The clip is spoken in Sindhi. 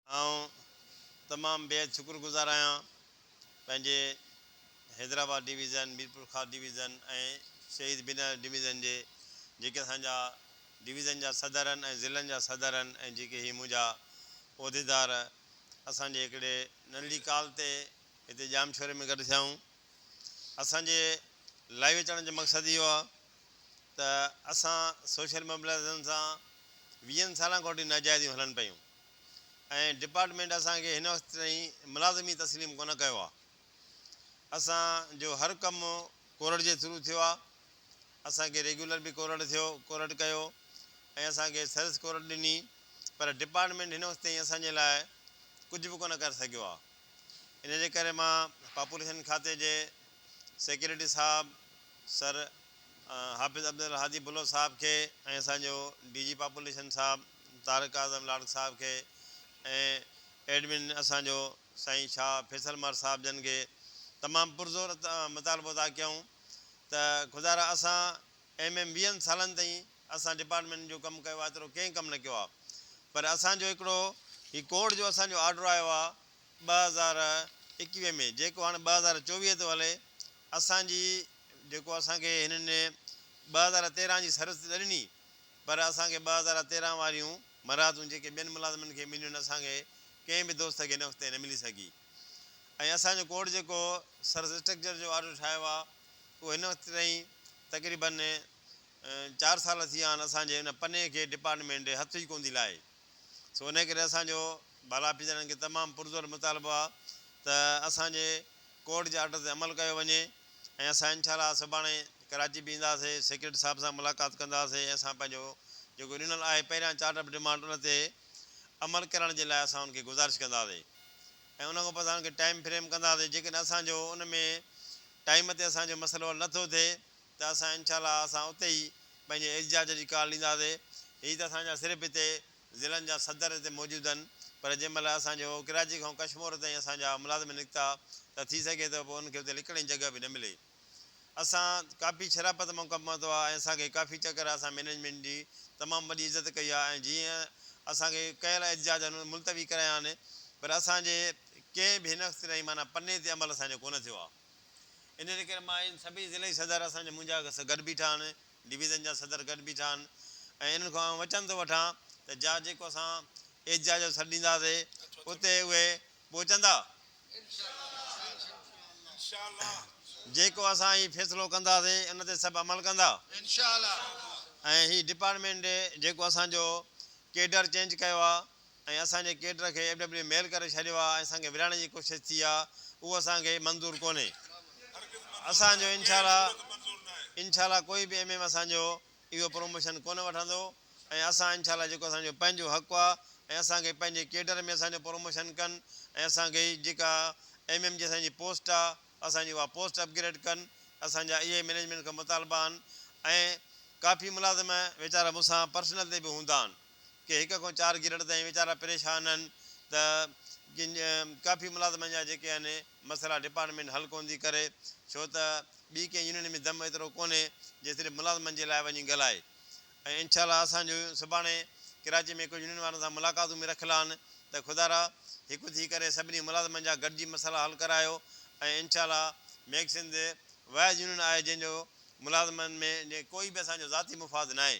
آئون تمام بيحد شڪر گذار آهيان پنهنجي حيدرآباد ڊويزن، ميرپورخاص ڊويزن ۽ شهيد بنياز ڊويزن جي جيڪي اسان جا ڊويزن جا صدرن ۽ ضلعن جا صدرن ۽ جيڪي هي منهنجا عهديدار اسان جي هڪڙي ننڍڙي ڪال تي هتي ڄامشوري ۾ گڏ ٿيائون. اسان جي لائيو اچڻ جو مقصد اهو هو ته اسان سوشل موبلائيزيشن سان ويهن سالن کان وٺي ناجائزيون هلن پيون. ۽ ڊپارٽمينٽ اسان کي هن وقت تائين ملازم ئي تسليم ڪونه ڪيو آ. اسان جو هر ڪم ڪورٽ جي ٿرو ٿيو آ. اسان کي ريگيولر به ڪورٽ ٿيو ڪورٽ ڪيو ۽ اسان کي سرس ڪورٽ ڏني پر ڊپارٽمينٽ هن وقت تائين اسان جي لاء ڪجهه به ڪونه ڪري سگهيو آ. ان جي ڪري مان پاپوليشن کاتي جي سيڪريٽري صاحب سر حافظ عبدالهادي بلوچ صاحب کي ۽ اسان جو ڊي جي پاپوليشن صاحب طارق اعظم لاڙڪ صاحب کي ۽ ايڊمن اسان جو سائين شاهه فيصل مار صاحب جن کي تمام پرزور مطالبو ادا ڪيائون ته خدارا اسان ايم ايم ويهن سالن تائين اسان ڊپارٽمينٽ جو ڪم ڪيو آهي ايترو ڪنهن ڪم نه ڪيو آهي پر اسان جو هڪڙو هي ڪورٽ جو اسان جو آرڊر آيو آهي ٻه هزار ايڪويهه ۾ جيڪو هاڻي ٻه هزار چوويهه ٿو هلي اسان جي جيڪو اسان کي هنن ٻه هزار تيرهن جي سروس ڏني پر اسان کي ٻه هزار تيرهن واريون مراعتون جيڪي ٻين ملازمن کي مليون اسان کي ڪنهن به دوست کي ان وقت تائين نه ملي سگهي ۽ اسان جو ڪورٽ جيڪو سرس اسٽرڪچر جو آرڊر ٺاهيو آهي اهو هن وقت تائين تقريبن چار سال ٿي ويا آهن اسان جي ان پني کي ڊپارٽمينٽ هٿ ئي ڪونه ٿي لائي. سو انهيء ڪري اسان جو بالا آفيسرن کي تمام پرزور مطالبو آهي ته اسان جي ڪورٽ جي آرڊر تي عمل ڪيو وڃي ۽ اسان انشاء الله سڀاڻي ڪراچي به ايندا سي سيڪريٽري صاحب سان ملاقات ڪندا سي ۽ اسان پنهنجو جيڪو ڏنل آهي پهريان چارٽ آف ڊيمانڊ ان تي عمل ڪرڻ جي لاء اسان ان کي گذارش ڪندا سي ۽ ان کان پوء اسان ان کي ٽائيم فريم ڪندا سي جيڪڏهن اسان جو ان ۾ ٽائيم تي اسان جو مسئلو حل نه ٿو ٿئي ته اسان انشاء الله اسان اتي ئي پنهنجي احجاج جي ڪال ڏينداسي هي ته اسان جا صرف هتي ضلعن جا صدر هتي موجود هن پر جنهن مهل اسان جو ڪراچي کان ڪشمور تائين اسان جا ملازم نڪتا ته ٿي سگهي ٿو پوء انهن کي اتي لڪڻ جي جڳهه به نه ملي اسان ڪافي شرافت مان ڪم ورتو آهي ۽ اسان کي ڪافي چڪر اسان مينيجمينٽ جي تمام وڏي عزت ڪئي آهي ۽ جيئن اسان کي ڪيل احجاج انهن ملتوي ڪرايا آهن پر اسان جي ڪنهن به هن وقت تائين معنيٰ پني تي عمل اسان جو ڪونه ٿيو آهي. انهيء ڪري مان ان سڀيئي ضلعي صدر اسان جا منهنجا گڏ بيٺا آهن، ڊويزن جا صدر گڏ بيٺا آهن ۽ انهن کان آئون وچن ٿو وٺان ته جا جيڪو اسان ايجزا جو سڏ ڏينداسي اتي اهي پهچندا. جيڪو اسان هي فيصلو ڪنداسي ان تي سڀ عمل ڪندا. ۽ هي ڊپارٽمينٽ جيڪو اسان جو ڪيڊر چينج ڪيو آهي ۽ اسان جي ڪيڊر کي ايف ڊبليو ميل ڪري ڇڏيو آهي ۽ اسان کي ورهائڻ جي ڪوشش ٿي آهي اهو اسان کي منظور ڪونهي اسان جو انشاء الله انشاء الله ڪوئي به ايم ايم اسان جو اهو پروموشن ڪونه وٺندو ۽ اسان انشاء الله جيڪو اسان جو پنهنجو حق آهي ۽ اسان کي پنهنجي ڪيڊر ۾ اسان جو پروموشن ڪن ۽ اسان کي جيڪا ايم ايم جي اسان جي پوسٽ آهي اسان جي اها پوسٽ اپ گريڊ ڪن اسان جا اهي مينيجمينٽ کان مطالبا آهن ۽ ڪافي ملازم ويچارا مون سان پرسنل تي به هوندا آهن. ڪي هڪ کان چار گريڊ تائين ويچارا پريشان آهن ته ڪافي ملازمن جا جيڪي آهن مسئلا ڊپارٽمينٽ حل ڪونه ٿي ڪري ڇو ته ٻي ڪنهن يونين ۾ دم ايترو ڪونهي جي صرف ملازمن جي لاء وڃي ڳالهائي ۽ انشاء الله اسان جون سڀاڻي ڪراچي ۾ ڪجهه يونين وارن سان ملاقاتون به رکيل آهن ته خدارا هڪ ٿي ڪري سڀني ملازمن جا گڏجي مسئلا حل ڪرايو ۽ انشاء الله ميگسنڌ واحد يونين آهي جنهن جو ملازمن ۾ ڪوئي به اسان جو ذاتي مفاد ناهي.